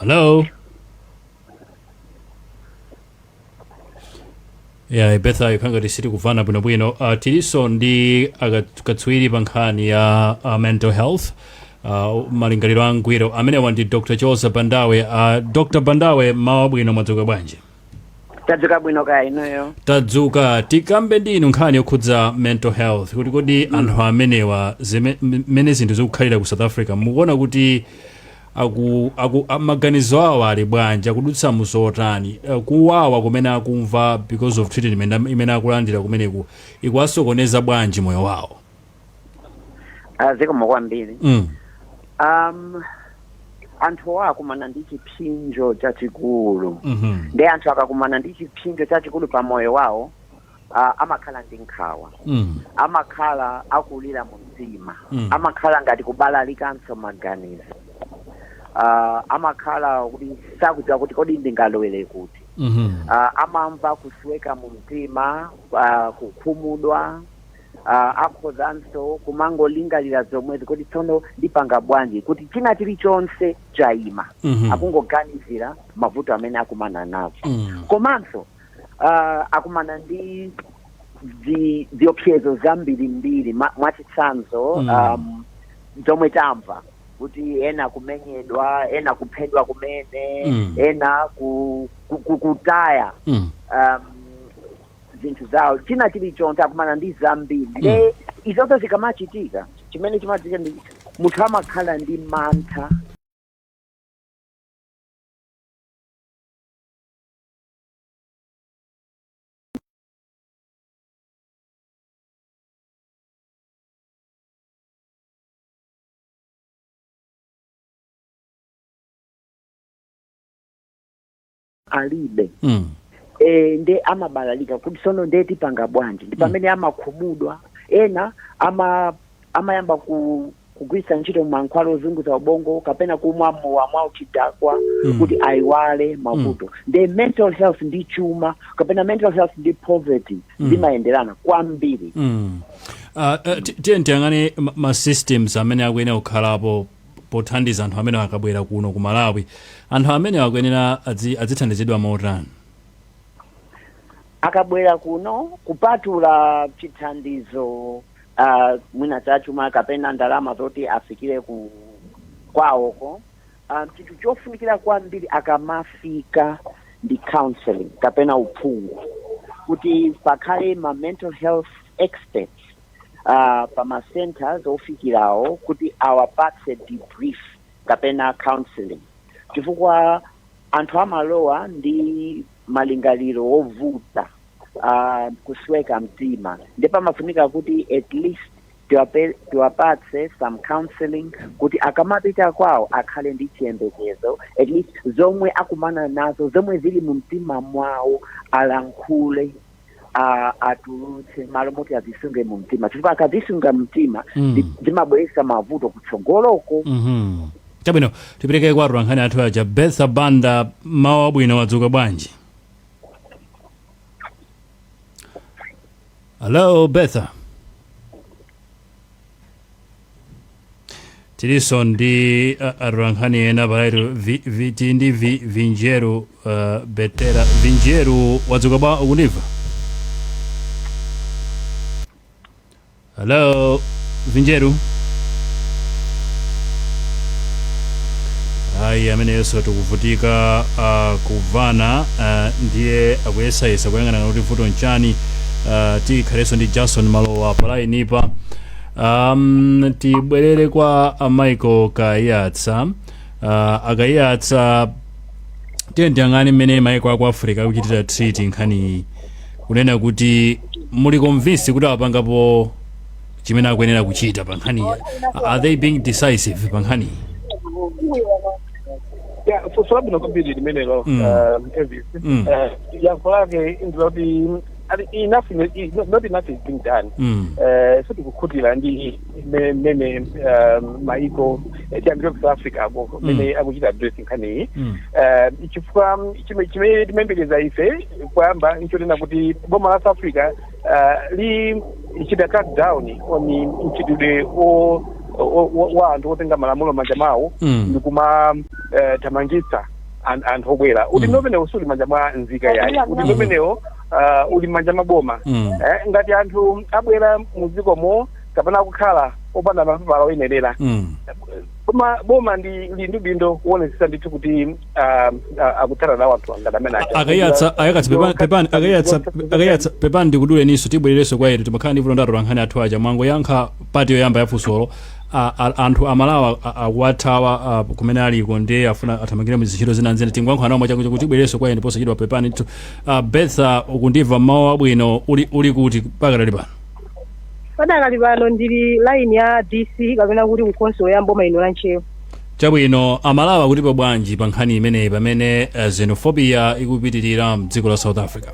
hello ya betha ikukhala ngati sitikumvana bwinobwino uh, tilinso ndi akat- katswiri pa nkhani ya uh, mental health uh, malingaliro angwiro amenewa ndi dr chiwoza bandawe uh, dr bandawe mmawa wabwino mwadzuka bwanji tadzuka bwino kaya inuyo tadzuka tikambe ndi inu nkhani yokhudza mental health kuti kodi anthu amenewa zime- m- mmene zinthu zikukhalira ku south africa mukuona kuti aku, aku, a- maganizo awo ali bwanji akudutsa muzotani Eh, kuwawa kumene akumva because of treatment am- imene akulandira kumeneko ikuwasokoneza bwanji moyo wawo Ah, zikomo kwambiri mm. um, anthu akumana ndi chipsinjo chachikulu mhm. nde anthu akakumana ndi chipsinjo chachikulu pa moyo wawo uh, amakhala ndi nkhawa Mm. amakhala akulira mu mtima Mm. amakhala ngati kubalalikanso maganizo uh, amakhala kuti sakudziwa kuti kodi ndingalowere kuti Mhm. uh, amamva kusweka mu mtima uh, kukhumudwa uh, akhozanso kumangolingalira zomwezi kodi tsono ndipanga bwanji kuti china chilichonse chayima Mhm. akungoganizira mavuto amene akumana nazo Mm. komanso uh, akumana ndi zi- ziopsezo zambirimbiri ma- mwachitsanzo Mm. um, zomwe tamva kuti ena kumenyedwa ena kuphedwa kumene Mm. ena ku, ku, ku, kutaya Mm. um, zinthu zawo china chilichonse akumana ndi zambiri nde izozo zikamachitika chimene chimachitika ndi munthu amakhala ndi mantha alibe Mm. e, nde amabalalika kuti sono nde tipanga bwanji ndi pamene amakhumudwa ena ama amayamba ku kugwiritsa ntchito mankhwala ozunguza ubongo kapena kumwa mowa mwa uchidakwa Mm. kuti ayiwale mavuto nde mental health ndi chuma kapena mental health ndi poverty zimayenderana kwambiri Mm. Uh, uh, ti- tiyeni tiyang'ane ma- ma systems amene akuyenera kukhalapo pothandiza anthu amenewa akabwera kuno ku malawi anthu amenewa akuyenera adzi- adzithandizidwa motani akabwera kuno kupatula chithandizo uh, mwina chachuma kapena ndalama zoti afikire ku kwawoko um, chinthu chofunikira kwambiri akamafika ndi counseling kapena uphungu kuti pakhale ma mental health experts uh, pa ma centers ofikirawo kuti awapatse debrief kapena counseling chifukwa anthu amalowa ndi malingaliro ovuta uh, kusweka mtima nde pamafunika kuti at least tiwape- tiwapatse some counseling kuti akamapita kwawo akhale ndi chiyembekezo at least zomwe akumana nazo zomwe zili mu mtima mwawo alankhule a- atulutse malo moti azisunge mu mtima chifukwa akazisunga mmtima Mm. ndi- zimabweretsa mavuto kutsogoloko Mhm. chabwino tipitirire kwa atolankhani athu aja betha banda mmawa wabwino wadzuka bwanji hello betha tiliso ndi uh, atolankhani ena palaito vi, vi, tili ndi vi, vinjeru uh, betera vinjeru wadzuka bwa ukundimva hello vinjeru ayi ameneyonso tikuvutika uh, kumvana uh, ndiye akuyesayesa kuyang'ana kuti vuto nchani uh, tikhalenso ndi jason malowa palainipa um, tibwerere kwa a michael kayatsa uh, akayatsa tiye tiyang'ane mmene maiko aku africa akuchitira treat nkhaniyi kunena kuti muli convinced kuti apangapo chimene akuyenera kuchita pa nkhaniyi are they being decisive pa nkhaniyi Yeah, funso labwino kwambiri limenelo Mm. um, Elvis. Mm. Eh, yankho lake ndi loti not enough ine- is not, not enough is being done Mm. Eh, sitikukhutira ndi me- mmene eh, maiko eh, tiyambire ku south africa ko mmene akuchita address nkhaniyi Mm. Eh, chifukwa mm, chime- chimene timayembekeza ife kuyamba nchonena kuti boma la south africa eh, lichita crack down on mchitidwe o- o- o- wa anthu otenga malamulo m'manja mwawo Mm. ndikumathamangitsa an- anthu obwera udindo umenewo suli m'manja mwa nzika yayi udindo umenewo uh, uli m'manja mwa boma Mm. eh, ngati anthu abwera mudzikomo kapena akukhala opanda mapepala oyenerera Mm. boma boma ndi limene lili ndi udindo kuonetsetsa ndithu kuti um, uh, akuthana nawo anthu ngati amene aja. akayatsa akayatsa pepani pepani akayatsa akayatsa pepani ndikuduleniso tibwerereso kwa inu timakhala ndi vuto ndi atolankhani athu aja mwangoyankha pati yoyamba ya funsolo a, a, anthu amalawa akuwathawa a, kumene aliko ndiye afuna athamangire mu zintchito zina ndi zina tingoyankhula nawo mwachangu kuti tibwerereso kwa inu posachedwa pepani ndithu uh, betha ukundimva m'mawa wabwino uli, uli kuti pakadali pano padakali pano ndili line ya dc kapena kuti kukhonsolo ya m'boma lino la ntcheu chabwino amalawa akutipo bwanji pa nkhani imeneyi pamene uh, xenophobia ikupitirira mdziko la south africa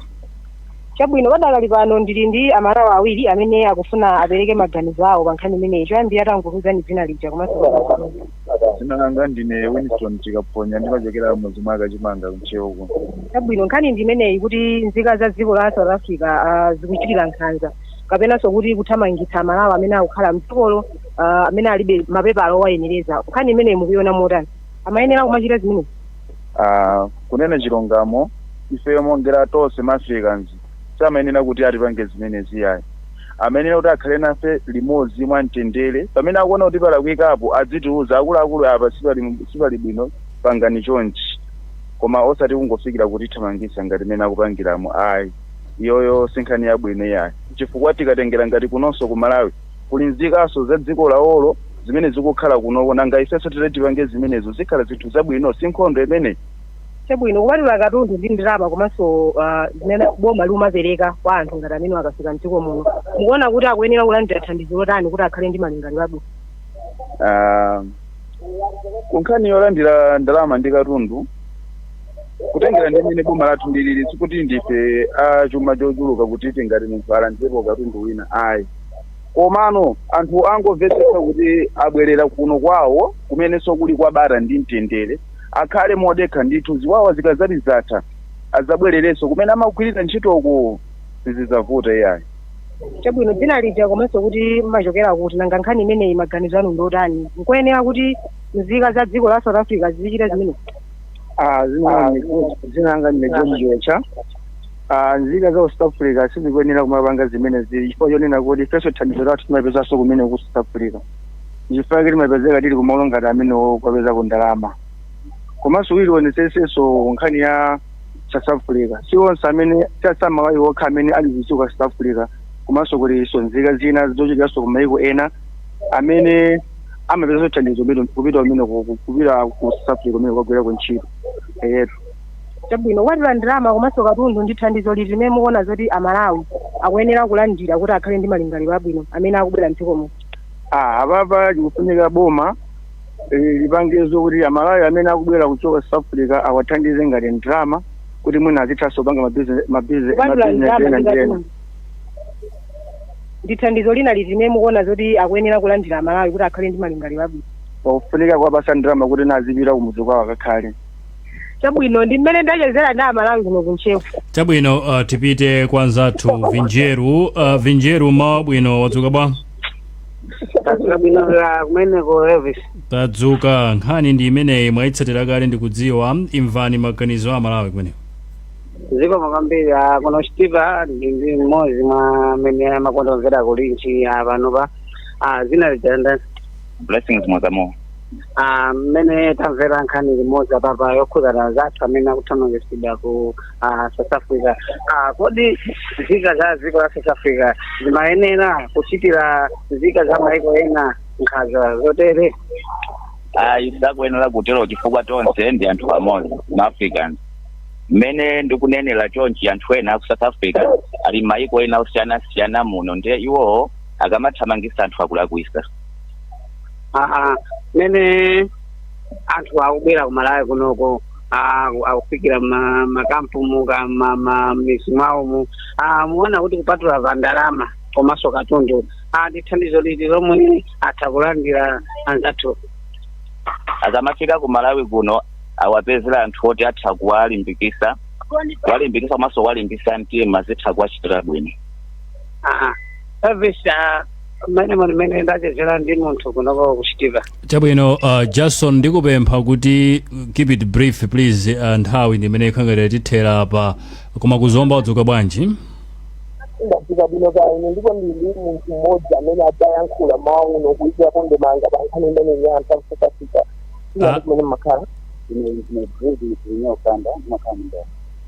Chabwino, padakali pano ndili ndi amalawa awiri amene akufuna apereke maganizo awo pa nkhani imeneyi. Choyambirira tangotiuzani dzina lija komanso komwe mukuchokera. Dzina langa ndine Winston Chikaphonya, ndimachokera m'mudzi mwa Kachimanga ku Ntcheu kuno. Chabwino, nkhani ndi imeneyi kuti nzika za dziko la South Africa zikuchitira nkhanza kapenanso kuti kuthamangitsa amalawa amene akukhala m'dzikolo amene alibe mapepala owayenereza. Nkhani imeneyi mukuiona motani? Amayenera kumachita zimenezi? uh, kunena chilungamo ifeyo motengera tonse ma africans samayenera kuti atipange zimenezi ayi amayenera kuti akhale nafe limodzi mwa mtendere pamene akuona kuti palakwikapo adzitiuza akuluakulu apa sipali sipali bwino pangani chonchi koma osati kungofikira kutithamangisa ngati mmene akupangiramo ayi iyoyo si nkhani yabwino yayi chifukwa tikatengera ngati kunonso ku malawi Kuli nzikanso za dziko lawolo zimene zikukhala kunoko nanga ifenso titati tipange zimenezo zikhala zinthu zabwino? Si nkhondo imeneyi? Chabwino, kupatula katundu ndi ndalama komanso zimene boma liumapereka kwa anthu ngati amenewo akafika mdziko muno, mukuona kuti akuyenera kulandira thandizo lotani kuti akhale ndi malingaliro abwino? Aaa ku nkhani yolandira ndalama ndi katundu, kutengera ndi mmene boma lathu liliri sikuti ndife a chuma chochuluka kuti tingati munthu alandirepo katundu wina ayi. Komano anthu angomvetsetsa kuti abwerera kuno kwawo kumenenso kuli kwa bata ndi mtendere, akhale modekha ndithu, ziwawa zikadzati zatha adzabwererenso kumene amagwirira ntchitoko, sizidzavuta iyayi. Chabwino, dzina lija komanso kuti mumachokera kuti? Nanga nkhani imeneyi maganizo anu ndi otani? N'koyenera kuti nzika za dziko la South Africa zizichita zimenezi? Aaa, zimenezi, dzina langa ndine George Chiwetcha. Ah, nzika za ku south africa sizikuyenera kumapanga zimene zili chifukwa chonena kuti ifenso thandizo lathu timapezanso kumene ku south africa chifukwa chake timapezeka tili kumalo ngati amenewo kukapezako ndalama komanso tikaonetsetsanso nkhani ya south africa si onse amene tasa aMalawi okha amene ali ku dziko south africa komanso kulinso nzika zina zochokeranso ku maiko ena amene amapezanso thandizo kupita kumene ku- kupita ku south africa kumene kukagwirako ntchito eyetu Chabwino, kupatula ndalama komanso katundu, ndi thandizo liti limene mukuona zoti a Malawi akuyenera kulandira kuti akhale ndi malingaliro abwino amene akubwera m'dziko muno? A, Apapa chikufunika boma lipange zokuti a Malawi amene akubwera kuchoka South Africa awathandize ngati ndalama kuti mwina azithanso kupanga ma business ena ndi ena. Kupatula ndalama ndi katundu, ndi thandizo lina liti limene mukuona zoti akuyenera kulandira a Malawi kuti akhale ndi malingaliro abwino? Pakufunika kuwapatsa ndalama kuti azipita kumudzi kwawo akakhale. chabwino ndi mmene ndachezera ndi amalawi kuno ku Ntcheu chabwino uh, tipite kwa nzathu vinjeru uh, vinjeru mmawa wabwino wadzuka bwanji Tadzuka bwino kumeneko Elvis. tadzuka nkhani ndi imeneyi mwayitsatira kale ndikudziwa imvani maganizo a aMalawi kumeneko Zikomo kwambiri a kuno Chitipa ndili ndi mmodzi mwa amene amakonda kumvera kulinji a pano pa a dzina lija nda Blessings Mwazamo Ah, mmene tamvera nkhani limodzi apapa yokhudzana anzathu amene akuthamangitsidwa ku ah, south africa Ah, kodi nzika za dziko la south africa zimayenera kuchitira nzika za maiko ena nkhanza zotere ayi sakuyenera kutero chifukwa tonse ndi anthu amodzi ma africans mmene ndikunenera chonchi anthu ena aku south africa ali m'maiko ena osiyanasiyana muno ndiye iwowo akamathamangisa anthu akulakwisa Aha, mene anthu akubwera ku Malawi kunoko ah, akufikira m'ma- m'makampu mu ka- ma- ma- m'midzi mwawomu Ah, mukuona kuti kupatula pa ndalama komanso katundu Ah, ndi thandizo liti lomwe atha kulandira anzathu akamafika ku malawi kuno awapezere anthu oti atha kuwalimbikitsa kuwalimbikitsa komanso kuwalimbitsa mtima zitha kuwachitira bwino aha service ah, mmene muli mmene ndachezera ndi munthu kunoko zikuchitika chabwino uh, jason ndikupempha kuti keep it brief please uh, nthawi ndimene ikukhala ngati yatithera apa koma ku Zomba mwadzuka bwanji ndadzuka bwino kaya inu ndipo ndili munthu mmodzi amene ndizayankhula m'mawa uno kuikira ndemanga pa nkhani imeneyi anthu akufukafika Ah. iyani kumene ndimakhala ine ndine bredi inokanda makhala mndani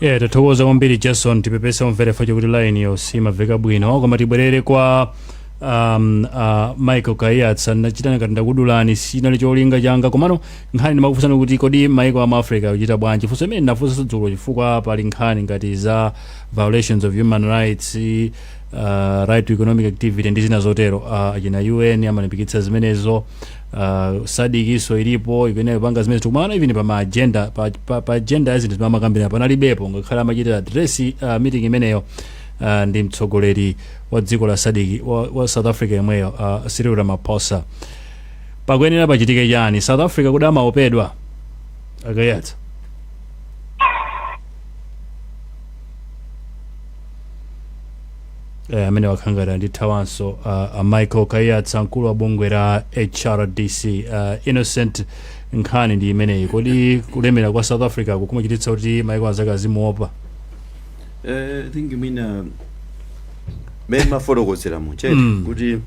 yeah tathokoza kwambiri jason tipepese omvera athu chifukwa choti line-yo simamveka bwino koma tibwerere kwa um, uh, michael kaiyatsa ndinachita ngati ndakudulani sichinali cholinga changa komano nkhani ndimakufunsani kuti kodi maiko a mu africa akuchita bwanji funso limene ndinafunsanso dzulo chifukwa pali nkhani ngati za violations of human rights uh, right to economic activity ndi zina zotero uh, achina un amalimbikitsa zimenezo uh, SADC-nso ilipo ikuyenera kupanga zimenezi kukumana even pa maagenda pa, pa, pa agenda ya zinthu zimene amakambirana panalibepo ngakhale amachita address uh, meeting imeneyo uh, ndi mtsogoleri wa dziko la SADC wa, wa south africa yemweyo uh, cyril ramaphosa pakuyenera pachitike chani south africa kodi amaopedwa a Kaiyatsa Eh, ameneyu wakhala ngati watithawanso uh, a michael kaiyatsa mkulu wa bungwe la hrdc uh, innocent nkhani ndi imeneyi kodi kulemera kwa south africa kukumachititsa kuti maiko anzake azimuopa Eh, i think mwina mmene mafotokozera muchete Mm. kuti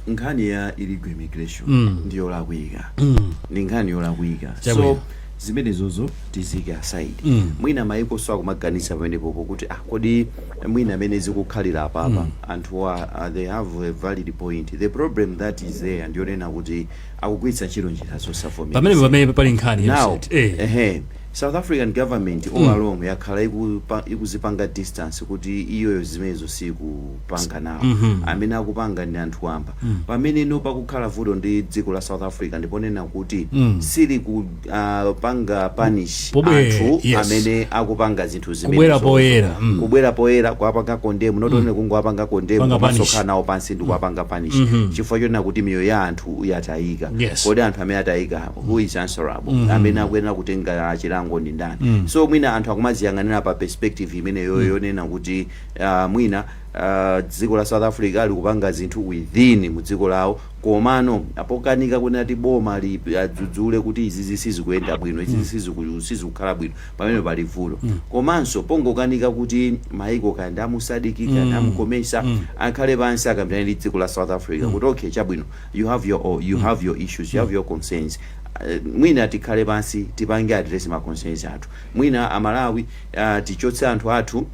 nkhani ya illegal immigration Mm. ndi yolakwika Mm. ndi nkhani yolakwika Chabwino. so zimenezozo tiziike aside Mm. mwina maikonso akumaganiza pamenepopo kuti ah, kodi mwina mmene zikukhalira apapa anthuwa uh, they have a valid point the problem that is there ndiyonena kuti akugwiritsa ntchito njira pamene zosavomereza pamene pali nkhani ya now msati. Eh. ehe South African government all along yakhala ikupa, ikuzipanga distance kuti iyoyo zimenezo sikupanga nawo amene akupanga ndi anthu wamba pamene nono pakukhala vuto ndi dziko la South Africa ndiponena kuti sili ku ah, panga punish Pobwe- anthu yes. amene akupanga zinthu zimenezo Kubwera poyera, mm. kubwera poyera kuwapanga condemn not only kungowapanga condemn Panga komanso punish. kukhala nawo pansi ndi kuwapanga punish chifukwa chonena kuti miyoyo ya anthu yatayika Yes. kodi anthu amene atayika who is answerable mm -hmm. amene akuyenera kutenga chilango ndi ndani mm -hmm. so mwina anthu akumaziyang'anira pa perspective imeneyo mm -hmm. yonena kuti uh, mwina uh, dziko la south africa likupanga zinthu within mu dziko lawo komano pokanika kunena kuti boma adzudzule kuti izizi sizikuyenda bwino izizi mm. sizikukhala bwino pamene pali vuto mm. komanso pongokanika kuti maiko kaya ndi a mu SADC mm. a mu COMESA mm. akhale pansi akambirane ndi dziko la south africa mm. kuti okay chabwino you have your o you have your issues you have your concerns Uh, mwina tikhale pansi tipange address ma concerns athu mwina amalawi uh, tichotse anthu athu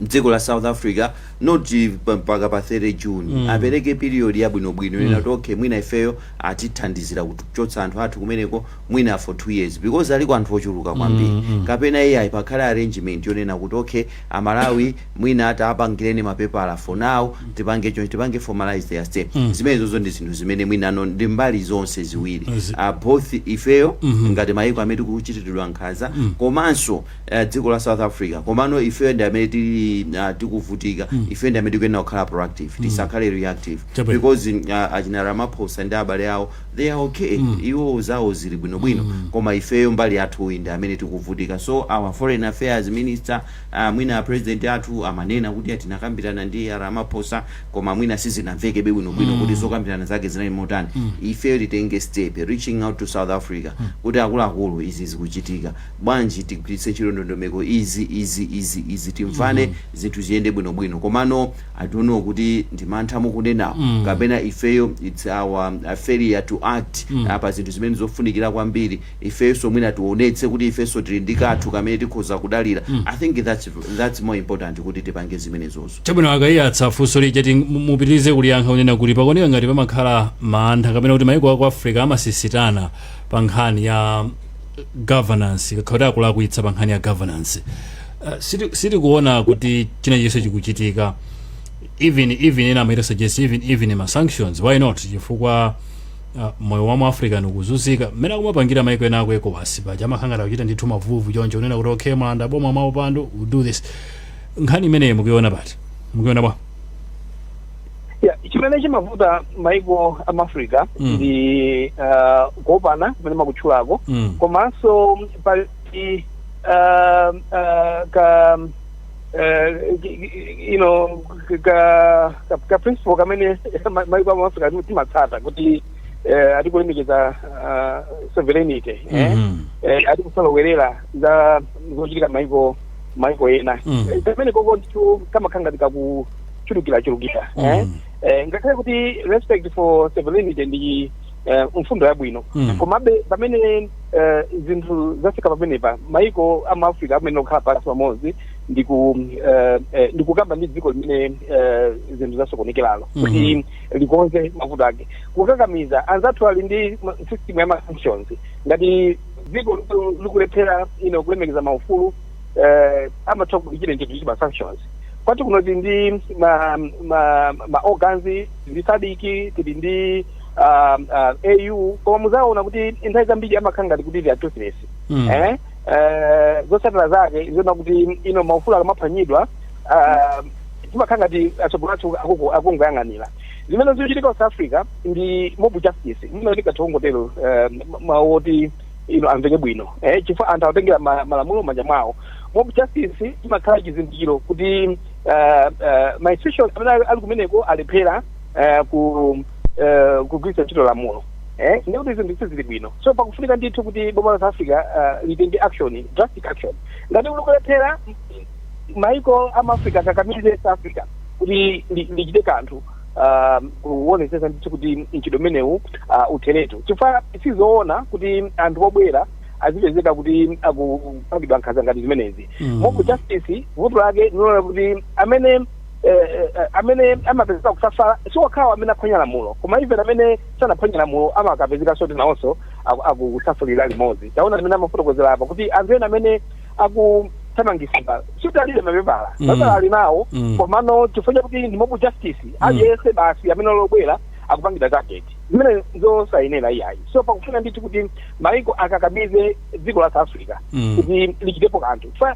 mdziko la south africa not eh, pa- mpaka pa 30 june mm. apereke period yabwinobwino mm. yonena kuti okay mwina ifeyo atithandizire kuchotsa anthu athu kumeneko mwina for two years because aliko anthu ochuluka kwambiri mm, mm. kapena iye ayi pakhale arrangement yonena kuti okay amalawi mwina atapangireni mapepala for now tipange chonchi tipange formalize their stay zimenezozo ndi zinthu zimene mwinano ndi mbali zonse ziwiri Zi- uh, both ifeyo ngati mayiko amene tikuchitiridwa nkhanza komanso uh, dziko la south africa komano ifeyo ndi amene tili uh, tikuvutika ifeyo ndi amene tikuyenera kukhala proactive tisakhale reactive Chabwino. because uh, achina Ramaphosa ndi abale awo they are okay iwo zawo zili bwinobwino koma ifeyo mbali yathuyi ndi amene tikuvutika so our foreign affairs minister Ah mwina a president athu amanena kuti tinakambirana ndi a Ramaphosa koma mwina sizinamvekebe bwino bwino kuti zokambirana zake zinali motani. Ifeyo titenge step reaching out to South Africa kuti akuluakulu izi zikuchitika. Bwanji tigwiritse ntchito ndondomeko izi, izi, izi, izi timvane zinthu ziyende bwino bwino. Komano I don't know kuti ndi mantha mukunenawo kapena ifeyo it's our failure to act ah, pa zinthu zimene zofunikira kwambiri. ifenso mwina tionetse kuti ifenso tili ndi kathu kamene tikhoza kudalira i think thats thats more important kuti tipange zimenezozo. Chabwino a Kaiyatsa funso lija ndati mupitilize kuliyankha kunena kuti pakuoneka ngati pamakhala mantha kapena kuti maiko aku Africa amasisitana pa nkhani ya governance akakhala kuti akulakwitsa pa nkhani ya governance uh, siti- sitikuona kuti china chilichonse chikuchitika even even ena might suggest even even ma sanctions why not chifukwa Ah, moyo wa mu Africa ukuzunzika mmene akumapangira maiko ena aku ecowas paja amakhala ngati achita ndithu mavuvu choncho unena kuti okay mwalanda boma mwa upandu we do this nkhani imeneyi mukuiona pati mukuiona bwa Yeah, chimene chimavuta maiko amu Africa Mm. ndi uh, kuopana kumene mwakutchulako mm. komanso pali uh, uh, ka you know ka ka, ka principle kamene ma- maiko amu africa ati- timatsata kuti eh, ati kulemekeza ah, sovereignty eh? Mhm. eh, ati kusalowerera za zochitika maiko maiko ena Mm. Eh, kamenekoko ndithu kamakhala ngati kakuchulukirachulukira eh? Mm. eh, ngakhale kuti respect for sovereignty ndi eh, mfundo yabwino Mm. komabe pamene eh, zinthu zafika pamenepa maiko a mu africa akumane akhale pansi pamodzi ndi ku eh, eh, ndi kukamba ndi dziko limene eh, zinthu zasokonekeralo kuti likonze mavuto ake kukakamiza anzathu ali ndi ma- system ya ma sanctions ngati dziko liku- likulephera ino kulemekeza maufulu eh, amatha kulichita ntchito ndi ma sanctions kwathu kuno tili ndi ma ma ma organs tili ndi SADC tili ndi ah, ah, AU koma muzaona kuti nthawi zambiri amakhala ngati kuti ndi toothless Mm. eh eh, zotsatira zake ndizonena kuti ino maufulu akamaphwanyidwa ah, timakhala ngati atsogoleri athu akuku- akungoyang'anira zimene zikuchitika ku south africa ndi mob justice ndimati tikangotero mawu oti ino amveke bwino eh, chifukwa anthu akutengera ma- malamulo manja mwawo mob justice imakhala chizindikiro kuti ah, ah, ma institution amene ali kumeneko alephera eh, ku eh, kugwiritsa ntchito lamulo eh, ndi kuti zinthu sizili bwino so pakufunika ndithu kuti boma la south africa eh, litenge action drastic action ngati likulephera maiko amaafrica akakamize south africa kuti li- lichite kanthu ah, kuonetsetsa ndithu kuti mchitidwe umenewu ah, utheretu chifukwa sizoona kuti anthu obwera azipezeka kuti akupangidwa nkhanza ngati zimenezi Mm. mob justice vuto lake ndilonena kuti amene eh, eh, eh, amene amapezeka akusafala si okhawo amene aphwanya lamulo koma even amene sanaphwanya lamulo amakapezeka soti nawonso aku- akusafalira limodzi taona amene amafotokozera apa kuti anthu ena amene akuthamangisidwa sikuti alibe mapepala Mm. mapepala ali nawo Mm. komano chifukwa chakuti ndi mob justice aliyense basi amene ali obwera akupangidwa target zimene ndi zosayenera iyayi so pakufuna ndithu kuti maiko akakamize dziko la south africa Mm. kuti lichitepo kanthu Fa-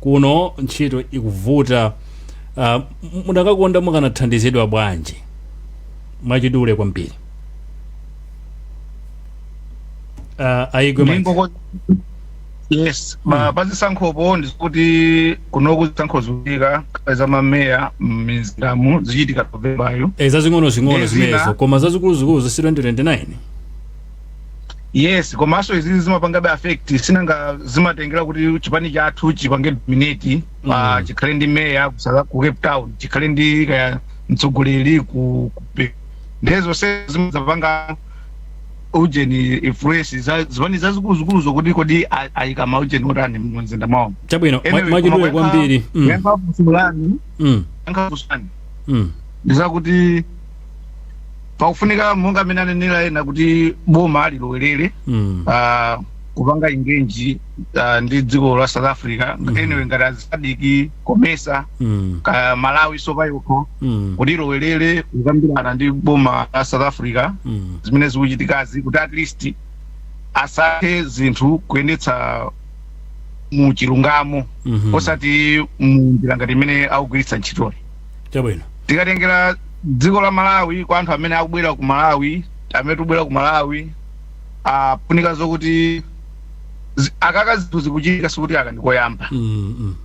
kuno ntchito ikuvuta uh, mudakakonda mukanathandizidwa bwanji mwachidule kwambiri uh, ayigwe Mike. Ndingoko- yes pazisankhopo ndizakuti kunoku zisankho zikuchitika kale za mameya m'mizindamu zichitika novembayo Eh, zazing'ono zing'ono Ndi zina. zimenezo koma zazikulu zikulu za 2029 yes komanso izi zimapangabe affect sinanga zimatengera kuti chipani chathu chipange dominate pa Mm. chikhale ndi meya ku South- ku cape town chikhale ndi kaya mtsogoleri ku ku Pe- ndiye zonse zimazapanga ujeni influence za- zipani zazikulu-zikulu zokuti kodi a- ayika ma ujeni otani mumzinda mwawo chabwino mwa- mwachidule kwambiri Mm, kuyankha kusulani mm, kuyankha kusulani mm. ndizakuti pakufunika monga amene anenera ena kuti boma lilowerere Mm. ah, kupanga engage ah, ndi dziko la south africa Mhm. anyway ngati a sadc comesa Mm. kaya malawiyo payokha Mm. kuti ilowerere kukambirana ndi boma la south africa Mm. zimene zikuchitikazi kuti at least azitha zinthu kuyendetsa mu chilungamo Mhm. osati mu njira ngati imene akugwiritsa ntchitoyi chabwino tikatengera dziko la malawi kwa anthu amene akubwera ku malawi amene tibwera ku malawi ikufunika zokuti zi- aka ka zinthuzi kuchitika sikuti aka ndikoyamba mm, mm,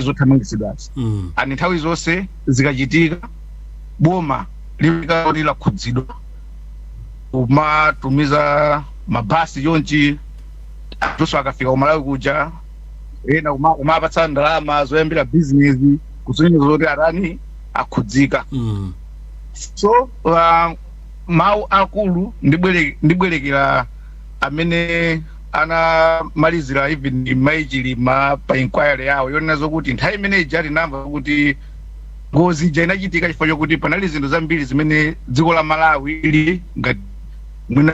zothamangitsidwazi mm, ani nthawi zonse zikachitika boma limakhala kuti lakhudzidwa kumatumiza mabasi chonchi anthuso akafika kumalawi kuja ena kuma- kumapatsa ndalama zoyambira bizinesi kusonyeza zoti atani akhudzika Mm. so uh, mawu akulu akulu ndibwere- ndibwerekera amene anamalizira even mai chilima pa inquiry yawo yonena zokuti nthawi imene ija tinamva kuti ngozi ija inachitika chifukwa chokuti panali zinthu zambiri zimene dziko la malawi ili ngati mwina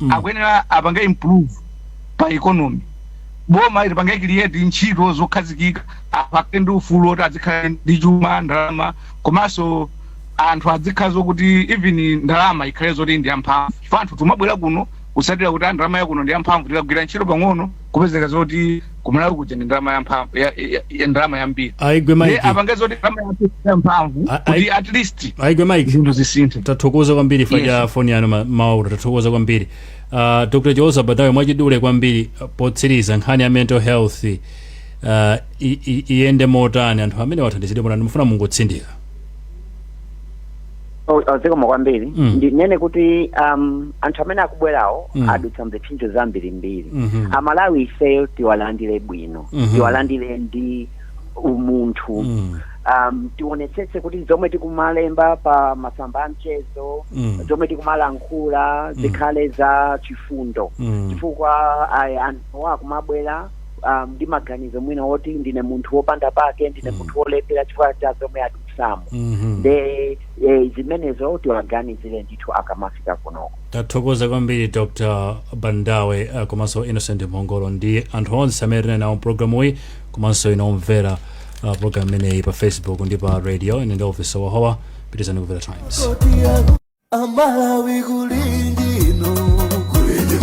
mm. akuyenera apange improve pa economy boma lipange create ntchito zokhazikika anthu akhale ndi ufulu oti azikhala ndi chuma ndalama komanso anthu azikhala zokuti even ndalama ikhale zoti ndi yamphamvu chifukwa anthu timabwera kuno kutsatira kuti a ndalama yakuno ndi yamphamvu tikagwira ntchito pang'ono kupezeka zoti kumalawi kuja ndi ndalama yamphamvu ya, ya, ya ndalama yambiri aigwe Ndiye mike apange zoti ndalama yambiri yamphamvu A- kuti ai- at least aigwe mike zinthu zisinthe tathokoza kwambiri chifukwa Yes. cha foni yanu ma- mawauta tathokoza kwambiri uh, dr chiwoza bandawe mwachidule kwambiri uh, potsiriza nkhani ya mental health uh, i- i- iyende motani anthu amenewa athandizidwe motani timafuna mungotsindika zikomo kwambiri Mm. ndinene kuti um, anthu amene akubwerawo Mm. adutsa m'zipsinjo zambirimbiri Mhm. amalawi ifeyo tiwalandire bwino Mhm. tiwalandire ndi umunthu Mm. um, tionetsetse kuti zomwe tikumalemba pa masamba a mchezo Mm. zomwe tikumalankhula zikhale za chifundo Mm. chifukwa ah, anthu akumabwera um, ndi maganizo mwina woti ndine munthu wopanda pake ndine Mm. munthu wolephera chifukwa cha zomwe adu sam Mhm. nde eh, zimenezo tiwaganizire ndithu akamafika kunoko tathokoza kwambiri dr bandawe eh, komanso innocent mphongolo ndi anthu onse amene tinali nawo mu pulogalamuyi komanso inu omvera uh, pulogalamu imeneyi pa facebook ndi pa radio ine ndi officer wahowa pitirizani kumvera times amalawi kulindi